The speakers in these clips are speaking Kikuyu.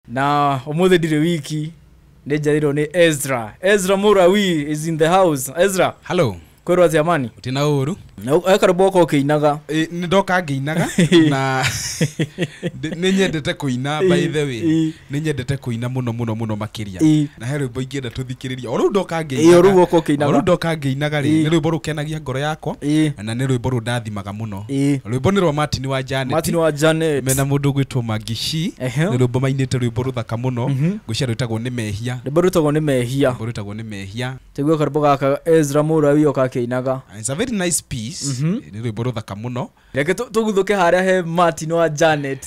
na umuthi ndiri wiki ni njarirwo ni ezra ezra murawi is in the house ezra hallo kwirwo atia mani utina uru ekarumba uka ukiinaga nä ndoka ngäinaga na ndĩ- nĩ nyendete kũina by the way Ĩ. nĩ nyendete kũina mũno mũno mũno makĩria Ĩ. na he rwĩmbo ingĩenda tũthikĩrĩria o rĩu ndoka Ĩ, o rĩu ũka ũkĩinaga. ngĩinaga rĩ Ĩ. nĩ rwĩmbo rũkenagia ngoro yakwa Ĩ. na nĩ rwĩmbo rũndathimaga mũno Ĩĩ. rwĩmbo nĩ rwa martin wa janet martin wa janet mena mũndũ ũgwĩtwo magishi Ehe. nĩ rwĩmbo mainĩte rwĩmbo rũthaka mũno ngwĩcia rwĩtagwo nĩ mehia rwĩmbo rwĩtagwo nĩ mehia rwĩmbo rwĩtagwo nĩ mehia tiguo karwĩmbo gaka ezra mũrawi oka akĩinaga It's a very nice piece nĩ rwĩmbo rũthaka mũno reke tũ- tũguthũke harĩa he martin wa janet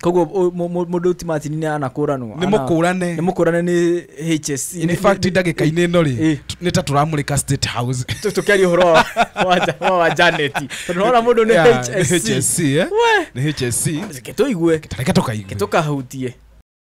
koguo ũ- mũ- mũ- mũndũ ti macini nĩ anakũranwo nĩ mũkũrane nĩ mũkũrane nĩ hsc in fact ndagĩka-inĩ ĩno rĩ Eh. tu- nĩ ta tũramũrĩka state house tũkĩaria ũhoro wa- wa Ja- wa- wa janeti tondũ nona mũndũ nĩ Yeah, hsc hsc eh? We. nĩ hsc Reke tũigue tareka tũkaigue tũkahutie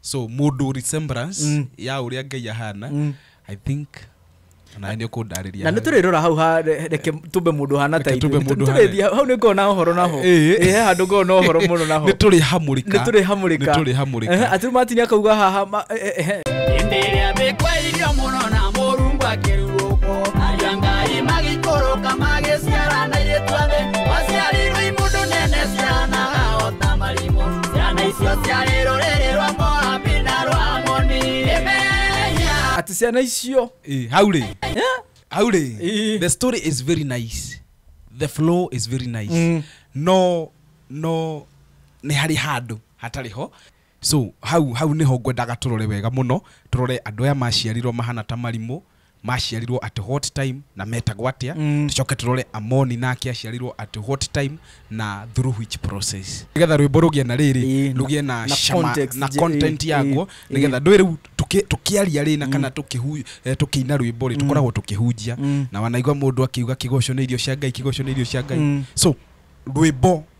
so mũndũ resemblance Mm. ya ũrĩa ngai ahana Mm. i think na nĩ ũkũndarĩria na nä tå rä rora hau ha- re- reke tumbe må ndå hana ta Reke tumbe mũndũ hana. ithuĩ hau nä ngoo na horo naho Ĩĩ. he handå ngoo na horo må no naho nä tå rä hamũrĩka nä tå rä hamå rä Nĩ tũrĩ hamũrĩka. atirå matini akauga haha ma- eh, eh, eh. hĩndĩ ĩrĩa mĩkwairio mũno na mũrungu akĩrurũkwo aria ngai magĩikũrũka magĩciara na irĩtuothe waciarirwo imũndũ nene ciana na marimũ ciana icio ciarĩ rũrĩrĩ rwa moabi na rwa amoni ĩmenya ati ciana icio Eh, hau rĩ Eh? hau rĩ Eh. the story is very nice the flow is very nice Mm. no no nĩ harĩ handũ hatarĩ ho So hau hau nĩho ngwendaga tũrore wega mũno, tũrore andũ aya maciarirwo mahana ta marimũ, maciarirwo at what time na metagwo atĩa, tũcoke tũrore Amoni nake aciarirwo at what time na through which process. Nĩgetha rwĩmbo rũgĩe na rĩrĩ, Ĩĩ, na- rũgĩe na na cama context, na ĩĩ, content ĩĩ, yaguo, ĩĩ. nĩgetha ndũĩ rĩu tũkĩ- tũkĩaria rĩ na kana tũkĩhu- eh, tũkĩina rwĩmbo rĩ tũkoragwo tũkĩhunjia na wanaigua mũndũ akiuga kĩgoco nĩ irio cia Ngai, kĩgoco nĩ irio cia Ngai. So rwĩmbo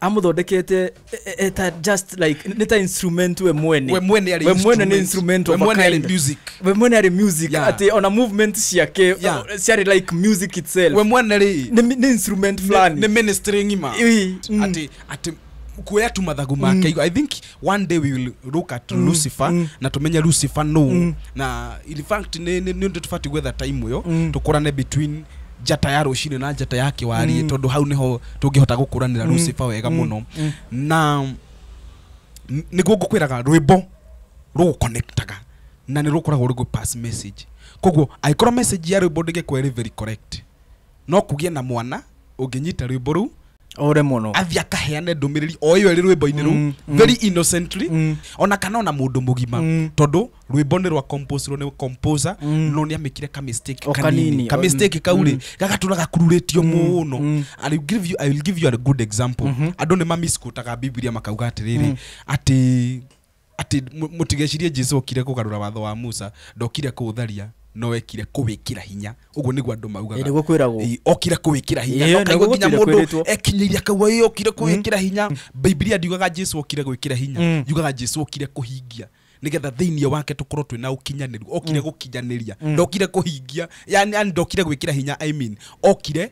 amũthondekete e- e- eta just like nĩ ta instrument we mwene we mwene arĩ We mwene nĩ instrument we of a mwene arĩ kind. music we mwene arĩ music Yeah. atĩ ona movement ciake Yeah. uh, ciarĩ like music itself we mwene rĩ nĩ mi- nĩ instrument nĩ fulani nĩ ministry ng'ima Ii, mm. ati ati kuoya tu mathagu make i think one day we will look at mm. lucifer mm. na tumenye lucifer no mm. na in fact ni ni ni tufati gwetha time yo mm. tukurane between njata ya rucini na njata ya kiwari mm. tondu hau niho tungihota gukuranira mm. lucifer wega mm. muno mm. na niguo ngukwiraga rwimbo ruguconnectaga na ni rukoragwo rugu pass message koguo angĩkorwo message ya rwimbo ndĩngĩkorwo ĩrĩ very correct no kũgĩe na mwana ũngĩnyita rwĩmbo rũu ore mũno athiĩ akaheane ndũmĩrĩri o ĩyo ĩrĩ rwĩmbo-inĩ rũu Mm, mm. very innocently Mm. ona kana ona mũndũ mũgima Mm. tondũ rwĩmbo nĩ rwa composerwo nĩ composer Mm. no nĩ amĩkire ka mistake O kanini kanini, ka o- mistake kau rĩ gagatũra gakururĩtio mũno mm. I will give you- I will give you a good example andũ nĩ mamisquotaga bibilia makauga atĩrĩrĩ atĩ atĩ mũ- mũtigecirie jesu okire kũgarũra watho wa musa ndokire kũũtharia no ekire kũwĩkĩra hinya ũguo nĩguo andũ maugaga Ĩ, nĩguo kwĩragwo. Ĩ, okire kũwĩkĩra hinya Ĩ, Ndoka nĩguo nginya gũtirĩ mũndũ kwĩrĩtwo. ekinyĩria akauga ĩ okire kũwĩkĩra hinya bibilia ndiugaga jesu okire gwĩkĩra hinya Mm. yugaga jesu okire kũhingia nĩgetha thĩinĩ wake tũkorwo twĩna ũkinyanĩru okire gũkinyanĩria ndokire kũhingia yani yani ndokire gwĩkĩra hinya I mean, okire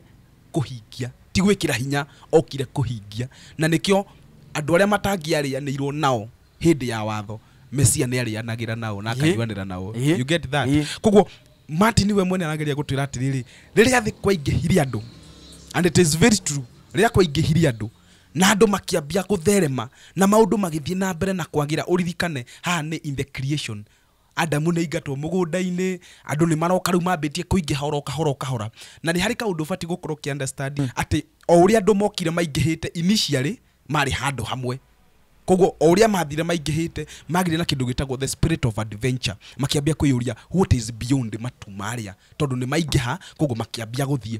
kũhingia, ti gwĩkĩra hinya, okire kũhingia. Na nĩkĩo andũ arĩa matangĩarĩanĩirwo nao hĩndĩ ya watho, Mesia nĩ arĩanagĩra nao na akanyuanĩra nao. You get that? Kwoguo Martin we mwene arageria gũtwĩra atĩrĩrĩ, rĩrĩa thĩ kwaingĩhire andũ, and it is very true, rĩrĩa kwaingĩhire andũ, na andũ makĩambia gũtherema, na maũndũ magĩthiĩ na mbere na kwagĩra, ũririkane haha nĩ in the creation, Adamu nĩ aingatwo mũgũnda-inĩ, andũ nĩ maroka rĩu mambĩtie kũingĩha oro kahora o kahora. Na nĩ harĩ kaũndũ ũbatiĩ gũkorwo ũkĩ understand atĩ o ũrĩa andũ mokire maingĩhĩte initially marĩ handũ hamwe. Kwoguo o ũrĩa mathire maingĩhĩte magĩire na kĩndũ gĩtagwo the spirit of adventure. Makĩambia kwĩyũria what is beyond matu marĩa tondũ nĩ maingĩha kwoguo makĩambia gũthiĩ.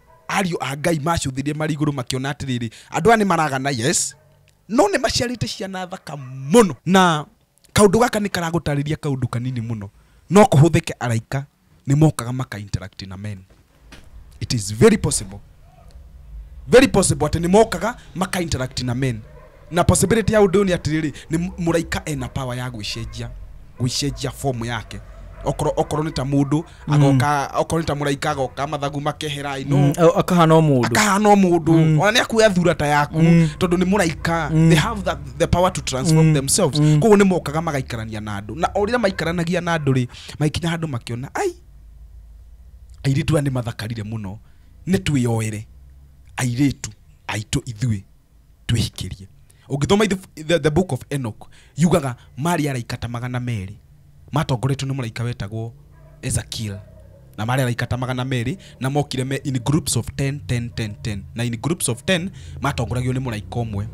ariũ a ngai macũthirie marĩ igũrũ makĩona atĩrĩrĩ andũ aya nĩ maragana yes no nĩ maciarĩte ciana thaka mũno na kaũndũ gaka nĩ karagũtarĩria kaũndũ kanini mũno no kũhũthĩke araika nĩ mokaga maka interact na men it is very possible very possible atĩ nĩ mokaga maka interact na men Na possibility ya ũndũ ũyũ nĩ atĩrĩrĩ, nĩ mũ- mũraika ena power ya gwĩcenjia gwĩcenjia form yake okorwo okorwo nĩ ta mũndũ agoka okorwo nĩ ta mũraika agoka mathagu makehera i know Au- akahana o mũndũ akahana o mũndũ ona nä akuoya thura ta yaku tondå nä må raika they have the, the power to transform themselves koguo nä mokaga magaikarania na andå na o rä rä a maikaranagia na andå rä magäkinya handå makäona ai airä tu aya nä mathakarire må no nä twä oere airä tu aitå ithuä twĩhikĩrie ũngĩthoma ithu- the, the book of enoch yugaga marĩ araika ta magana merĩ matongoretio nĩ mũraika wetagwo ezekiel na marĩ araika ta magana merĩ na mokire me in groups of 10 10 10 10 na in groups of 10 matongoragio nĩ mũraika ũmwe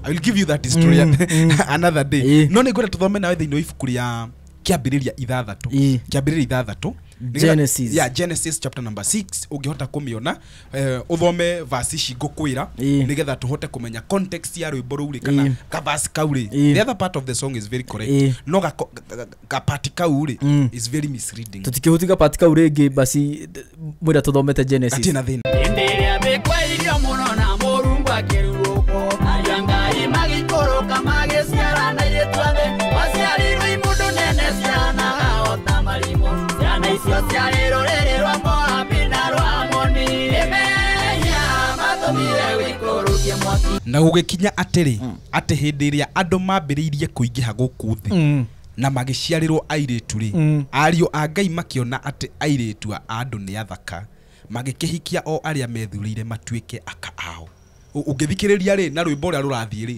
i will give you that history Mm, mm. another day Ĩĩ. no nĩ ngwenda tũthome nawe thĩinĩ wa ibuku rĩa kĩambĩrĩria ithathatũ Ĩĩ. kĩambĩrĩria ithathatũ Nĩgetha- Genesis. yeah, genesis chapter number 6 ũngĩhota kũmĩona eh, uthome vasi ici ngũkwĩra Ĩĩ. nĩgetha tũhote kũmenya context ya rwĩmbo rũu rĩ kana Ĩĩ. kavasi kau rĩ Ĩĩ. the other part of the song is very correct Ĩĩ. no gako- ga- ga- gapati kau rĩ Mm. is very misleading tũtikĩhũtika pati kau rĩngĩ basi d- mwĩra tũthomete genesis gatirĩ na thĩna hĩndĩ ĩrĩa mĩkwairio mũno na mũrungu akĩrurũkwo aria ngai magĩikũrũka magĩciarana irĩtuothe maciarirwo imũndũ nene ciana na marimũ ciana icio ciarĩ rũrĩrĩ rwa moabi na rwa amoni ĩmenya matũmire wĩkũrũkie mwaki na gũgĩkinya atĩrĩ atĩ hĩndĩ ĩrĩa andũ mambĩrĩirie kũingĩha gũkũ thĩ Mm. na magĩciarĩrwo airĩtu rĩ Mm. ariũ a ngai makĩona atĩ airĩtu a andũ nĩ athaka magĩkĩhikia o arĩa methurĩire matuĩke aka ao Ũ- ũngĩthikĩrĩria rĩ na rwĩmbo ũrĩa rũrathiĩ rĩ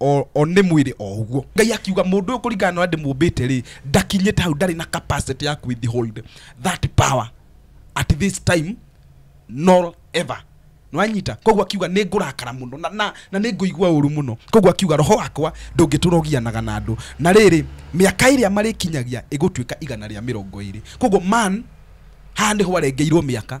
o o nĩ mwĩrĩ o ũguo ngai akiuga mũndũ ũyũ kũringana na ũrĩa ndĩmũmbĩte rĩ ndakinyĩte hau ndarĩ na capacity ya withhold that power at this time nor ever nwanyita koguo akiuga nĩ ngũrakara mũno na, na, na nĩ ngũigua ũru mũno koguo akiuga roho wakwa ndũngĩtũra ũgianaga na andũ na rĩrĩ mĩaka ĩrĩa marĩkinyagia ĩgũtuĩka igana rĩa mĩrongo ĩrĩ koguo man haha nĩho arengeirwo mĩaka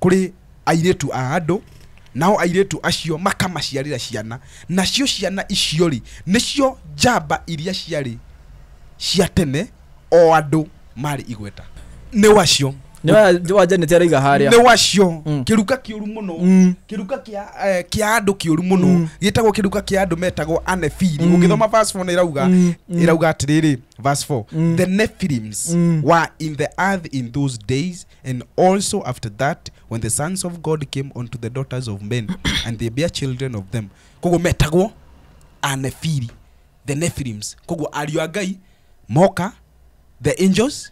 kũrĩ airĩtu a andũ nao airĩtu acio makamaciarĩra ciana nacio ciana icio rĩ nĩcio njamba iria ciarĩ cia tene o andũ marĩ igweta nĩ wacio nĩ wa janet araiga harĩa nĩ wacio Mm. kĩruka kĩũru mũno Mm. kĩruka kĩa eh, kĩa andũ kĩũru mũno Mm. gĩtagwo kĩruka kĩa andũ metagwo anefili Mm. ũngĩthoma verse 4 nĩ irauga Mm, mm. irauga atĩrĩrĩ verse 4 Mm. the nephilims Mm. were in the earth in those days And also after that, when the sons of God came unto the daughters of men, and they bare children of them, koguo metagwo Anephili, the Nephilims. Koguo ariũ a Ngai moka, the angels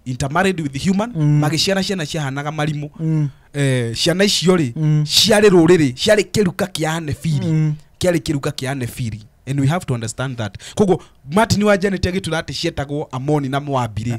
intermarried with human, Mm. magĩciara ciana ciahanaga marimũ. Mm. Eh, ciana icio rĩ Mm. ciarĩ rũrĩrĩ ciarĩ kĩruka kĩa anefiri Mm. kĩarĩ kĩruka kĩa anefiri and we have to understand that koguo martin wa janet agĩtura atĩ cietagwo amoni na moabi rĩ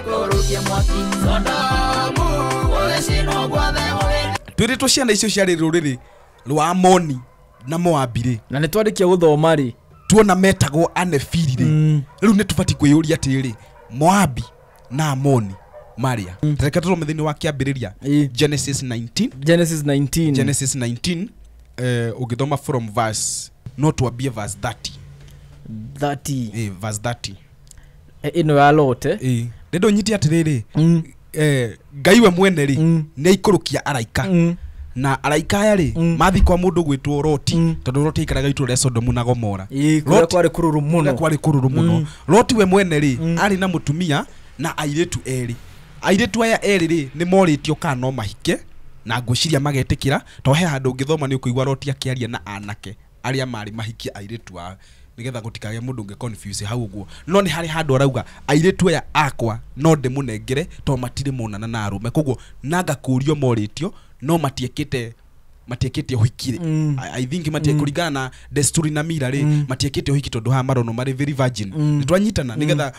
twĩrĩ twa ciana icio ciarĩ rũrĩrĩ rwa amoni na moabirĩ na nä twarĩkia gå thoma rä tuona metagwo anefirire Mm. rĩu nĩ tũbatiĩ kwĩyũria atĩrĩ moabi na amoni maria mm. tareka tũrome thĩinĩ wa kĩambĩrĩria Ĩ. genesis 19 genesis 19 genesis 19 eh, ũngĩthoma from verse no twambie verse 30 30 eh, verse 30 Eh, ino ya lote Ĩĩ. nĩ ndũnyiti atĩrĩrĩ Mm, eh, ngai we mwene rĩ Mm. nĩ aikũrũkia araika mm, na araika aya rĩ Mm. mathiĩ kwa mũndũ gwĩtwo roti Mm. tondũ roti aikaraga itũra rĩa sodomu na gomora ĩĩ, kũrĩa Lot- kwarĩ kũrũrũ kũrĩa mũno kwarĩ kũrũrũ mũno Mm. roti we mwene rĩ Mm. arĩ na mũtumia na airĩtu erĩ airĩtu aya erĩ rĩ nĩ morĩtio kana no mahike na ngwĩciria magetĩkĩra to he handũ ũngĩthoma nĩ ũkũigua roti akĩaria na anake arĩa marĩ mahikie airĩtu ao nigetha gutikage mundu unge confuse hau guo no ni hari handu arauga airĩtu aya akwa no ndĩmũnengere to matire monana na arume koguo na ngakũrio morĩtio no matiekite matiekite uhiki rĩ Mm. I- i think matie kuringana na desturi na mira rĩ matiekite uhiki tondu haha marono marĩ very virgin nitwanyitana nigetha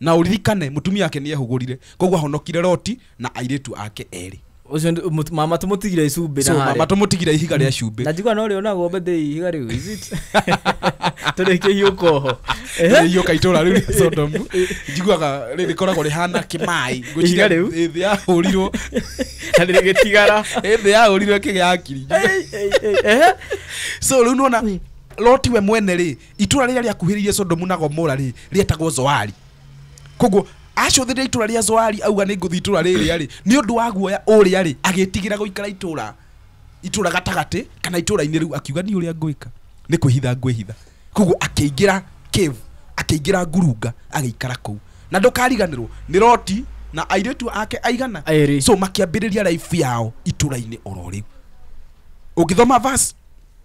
Na ũririkane, mũtumia wake nĩehũgũrire, koguo ahonokire Loti na airĩtu ake erĩ. Ũcio nĩ- mũtu- mama tũmũtigire icumbĩ So, na harĩa. mama tũmũtigire ihiga rĩa cumbĩ. na njiguaga no rĩo nagwo mbende ihiga rĩu is it? tũrĩkĩhiũka oho iyũka itũra rĩu rĩa sodomu njiguaga rĩ- rĩkoragwo rĩhana kĩmaĩ Ihiga rĩu? thĩ yahũrirwo na rĩgĩtigara thĩ yahũrirwo ĩkĩgĩa akiri so rĩu nona loti we mwene rĩ itũra rĩrĩa rĩakuhĩrĩirie sodomu na gomora rĩ rĩetagwo zoari koguo acũthĩrĩria itũra rĩa zoari auga nĩ ngũthi itũra rĩrĩa rĩ nĩ ũndũ wa guoya ũrĩa rĩ agĩtigĩra gũikara itũra itũra gatagatĩ kana itũra-inĩ rĩu akiuga niĩ ũrĩa ngwĩka nĩ kwĩhitha ngwĩhitha koguo akĩingĩra cave akĩingĩra ngurunga agĩikara kũu na ndũkariganĩrwo nĩ roti na airĩtu ake aigana Erĩ. so makĩambĩrĩria raibu yao itũra-inĩ oro rĩu ũngĩthoma verse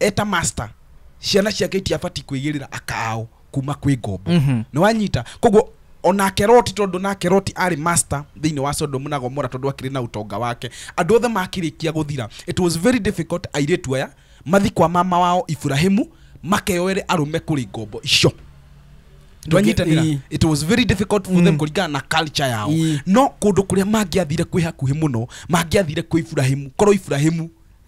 eta master ciana ciake itiabati kwĩgĩrĩra akaao kuma kwĩ ngombo Mhm. nĩ wanyita koguo onake roti tondũ nake roti arĩ master thĩinĩ wa sodomu na gomora tondũ akĩrĩ na ũtonga wake andũ othe makĩrĩkia gũthira it was very difficult airĩtu aya mathi kwa mama wao iburahimu makeyoere arũme kũrĩ ngombo icio twanyitanĩra Ii. it was very difficult for them kũringana na culture yao Ii. no kũndũ kũrĩa mangĩathire kwĩ hakuhĩ mũno mangĩathire kwĩ iburahimu korwo iburahimu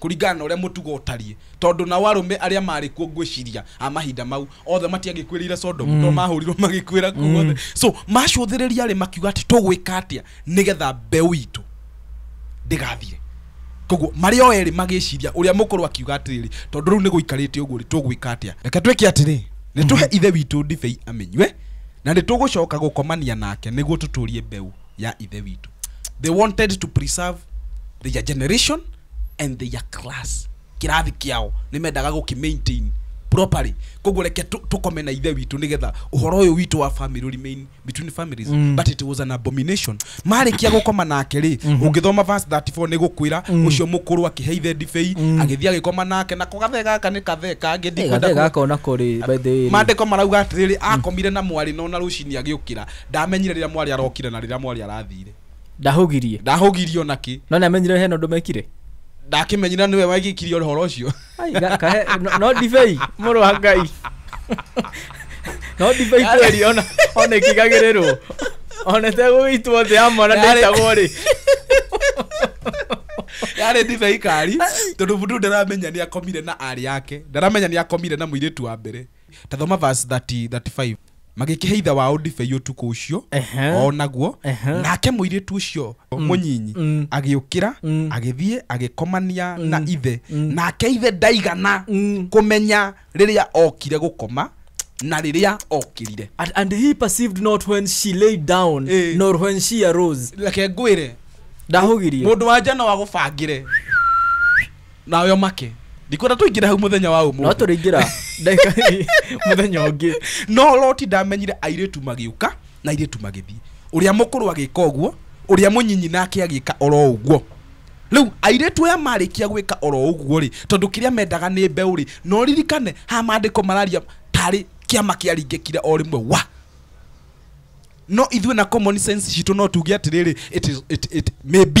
kũringana na ũrĩa mũtugo ũtariĩ, tondũ nao arũme arĩa maarĩ kuo ngwĩciria a mahinda mau othe matiagĩkuĩrĩire Sodomu mm. tondũ mahũrirwo magĩkuĩra kuo mm. othe so macũthĩrĩria rĩ makiuga atĩ tũgwĩka atĩa nĩgetha mbeũ itũ ndĩgathire koguo marĩ o erĩ magĩciria ũrĩa mũkũrũ akiuga atĩrĩrĩ tondũ rĩu nĩ gũikarĩte ũguo rĩ tũgwĩka atĩa reke twĩke atĩrĩ nĩ tũhe mm. ithe witũ ndibei amenywe na nĩ tũgũcoka gũkomania nake nĩguo tũtũrie mbeũ ya ithe witũ they wanted to preserve their generation and their class kĩrathi kĩao nĩ mendaga gũkĩmaintain properly koguo reke tũ- tũkome na ithe witũ nĩgetha ũhoro ũyũ witũ wa family will remain between families mm. but it was an abomination marĩkia gũkoma nake rĩ mm -hmm. ũngĩthoma verse 34 nĩ gũkwĩra mm. ũcio mũkũrũ akĩhe ithe ndibei mm. agĩthiĩ agĩkoma nake na kũgathe gaka nĩ kathe kangĩ ndikwenda gathe ku- gaka ona kũrĩ by the way rĩ. mandĩko marauga atĩrĩrĩ akomire na mwarĩ no na rũcinĩ agĩũkĩra ndamenyire rĩrĩa mwarĩ arokire na rĩrĩa mwarĩ arathire ndahũgirie ndahũgirie ona kĩ no nĩ amenyire hena ũndũ mekire ndakĩmenyire nĩwe wagĩkirie ũhoro ũcio Ai, ga- kahe no- no ndibei mũrũ wa ngai no ndibei kweri ona ona ikigagĩrĩrwo ona tegũgĩitwo thĩ ya mwana Yarĩ- ndĩtagwo rĩ yarĩ ndibei kari tondũ mũndũ ndaramenya nĩ akomire na arĩ yake ndaramenya nĩ akomire na mũirĩtu wa mbere tathoma verse 30 35 magĩkĩhe ithe wao ndibei ũtukũ ũcio Ehe. o naguo Ehe. nake mũirĩtu ũcio mũnyinyi Mm. agĩũkĩra Mm. agĩthiĩ agĩkomania na ithe nake ithe ndaigana Mm. kũmenya rĩrĩa okire gũkoma na rĩrĩa okirire And, and he perceived not when she lay down Eh. nor when she arose reke ngwĩre ndahugirie mũndũ wa njano agũbangĩre nawe omake ndikwenda tũingĩre hau mũthenya wa no ũmũthĩ tũrĩingĩra ndagĩka mũthenya ũngĩ no loti ndamenyire airĩtu magĩũka na airĩtu magĩthiĩ ũrĩa mũkũrũ agĩka ũguo ũrĩa mũnyinyi nake agĩka oro ũguo rĩu airĩtu aya marĩkia gwĩka oro ũguo rĩ tondũ kĩrĩa mendaga nĩ mbeũ rĩ no ririkane ha maandĩko mararia tarĩ kĩama kĩaringĩkire o rĩmwe wa no ithuĩ na common sense citũ no tuge atĩrĩrĩ it is- it- it may be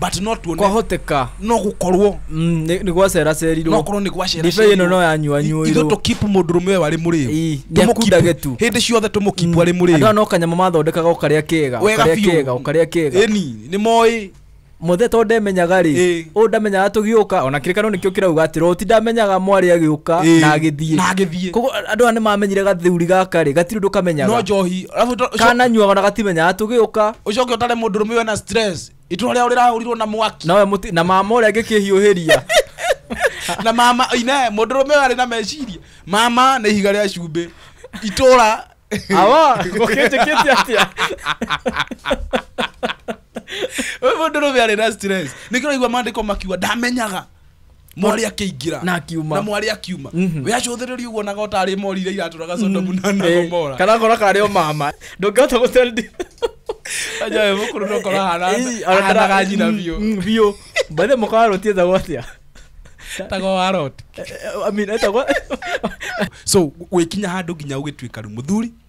but no tuone kwahoteka no gũkorwo mm, nĩ nĩ gwaceracerirwo no korwo nĩ gwacera ndibei ĩno no yanyua ithu nyuirwo tũkipu mũndũ rũme ũyũ arĩ mũrĩu Ii, nĩakundage tu. hĩndĩ ciothe tũmũkipu arĩ andũ aya mũrĩu no kanyamũ mathondekaga ũkarĩa kega Wega ũkarĩa biũ. kega ũkarĩa kega ĩni nĩ moĩ mũthe to ndemenyaga rĩ Ĩ. ũyũ ndamenyaga tũgĩũka ona kĩrĩkano nĩkĩo kĩrauga atĩ roti ndamenyaga mwarĩ agĩũka Ĩ, na agĩthiĩ na agĩthiĩ koguo andũ aya nĩ mamenyire gathuri gaka rĩ gatirĩ ũndũ no kamenyaga njohi Arabu to- ũcio- kananyuaga na gatimenyaga tũgĩũka ũcoke ũtare mũndũ rũme ũyũ ena stress itũra rĩao rĩrahũrirwo na mwaki nawe mũti na mama ũrĩa ngĩkĩhiũhĩria na mama ine mũndũ rũme ũyũ arĩ na meciria mama nĩ ihiga rĩa cumbĩ itũra awa gũkĩnjĩkĩte atĩa ũyũ mũndũ rũme arĩ na stress nĩkĩraigua mandĩko makiuga ndamenyaga mwarĩ akĩingĩra Na akiuma. na mwarĩ akiuma Mhm. we acũthĩrĩria ũguo naga ũtarĩ mori iria iratũraga sodomu na na Eh, gomora kana ngora karĩ o mama ndũngĩhota gũtendi ajawe mũkũrũ ndokora hanaga nyina biũ biũ mbathe mũkarũtie thagwo atĩa tago wa roti I mean, etagwo so gwĩkinya handũ nginya ũgĩtuĩka rĩu mũthuri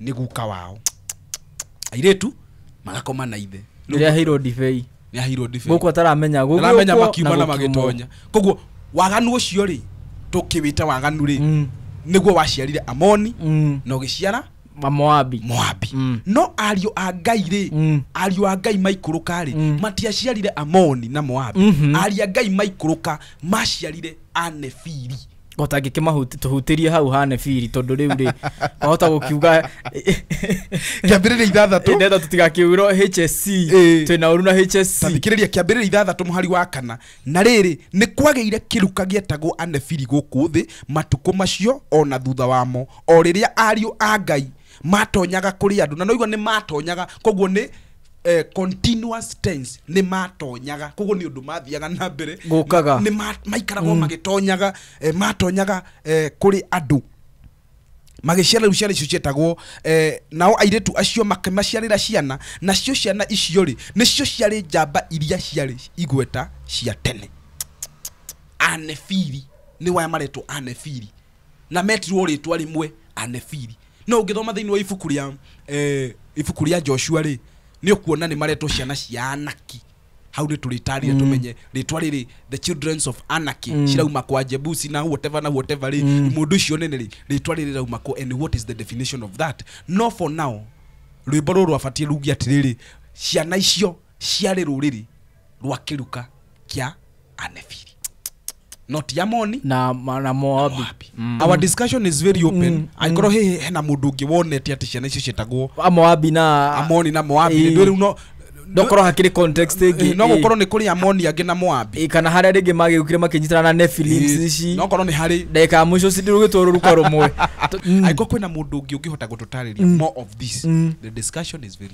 nĩ guka wao airĩtu marakoma na ithe Rĩu rĩrĩa aheirwo ndibei nĩ aheirwo ndibei gũkũ ataramenya aramenya gũgĩũkwo makiuma na gũkiumwo. magĩtonya koguo waganu ũcio rĩ tũkĩwĩta waganu rĩ Mm, nĩguo waciarire amoni mm, na ũgĩciara mamoabi moabi Mm. no ariũ a ngai rĩ Mm. ariũ a ngai maikũrũka rĩ Mm. matiaciarire amoni na moabi Mhm. ariũ a ngai maikũrũka maciarire anefiri o ta ngĩkĩmahuti tũhutĩrie hau hane biri tondũ rĩu rĩ wahota gũkiuga kĩambĩrĩria ithathatũ nenda tũtigakiurwo hsc Ĩĩ. twĩna ũru na hsc tathikĩrĩria kĩambĩrĩria ithathatũ mũhari wa kana na rĩrĩ nĩ kwagĩire kĩruka gĩetagwo anebiri gũkũ thĩ matukũ macio o na thutha wamo o rĩrĩa ariũ a ngai matonyaga kũrĩ andũ na noigua nĩ matonyaga koguo nĩ eh, continuous tense nä matonyaga koguo nä å ndå mathiaga na mbere Gũkaga. nĩ ma- maikaragwo magĩtonyaga eh, matonyaga eh, kũrĩ andũ magĩciara rĩu ciana icio cietagwo eh, nao airĩtu acio makĩmaciarĩra ciana nacio ciana icio rĩ nĩcio ciarĩ njamba iria ciarĩ igweta cia tene anefiri nĩ waya maretwo anefiri na metirwo rĩtwa rĩmwe anefili no ũngĩthoma thĩinĩ wa ibuku rĩa eh, ibuku rĩa joshua rĩ nĩ ũkuona nĩ maretwo ciana cia anaki hau nĩ tũrĩtarire tũmenye rĩtwa rĩrĩ the childrens of anarchy mm. cirauma kwa jebusi na whatever na whatever rĩ mm. mũndũ ũcio nene rĩ rĩtwa rĩrĩ rauma kwa and what is the definition of that no for now rwĩmbo rũrũ abatiĩ rugi atĩrĩrĩ ciana icio ciarĩ rũrĩrĩ rwa kiruka kia anefiri not ya moni na ma- na moabi Moabi. our discussion is very open angorwo hihi hena mundu ungi wonete ati ciana icio cietagwo A moabi na amoni na moabi Ĩĩ. ndwä rä u no ndokorwo hakiri context ĩngĩ ĩĩ, no ĩĩ. gå korwo nä kå rä amoni angä na moabi Ĩĩ, kana harĩa rĩngĩ magĩũkire makĩnyitana na nephilims ici no korwo nä harä ndagĩka ya mũico cindirũgĩtwo rũruka rũmwe angä korwo kwä na må ndå å ngä å ngä hota gå tå tarä ria more of this the discussion is very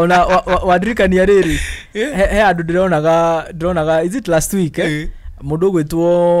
ona wa- wa- wandirikania rĩrĩ Eh. he he andũ ndĩronaga ndĩronaga is it last week eh? Eh. mũndũ ũgwĩtwo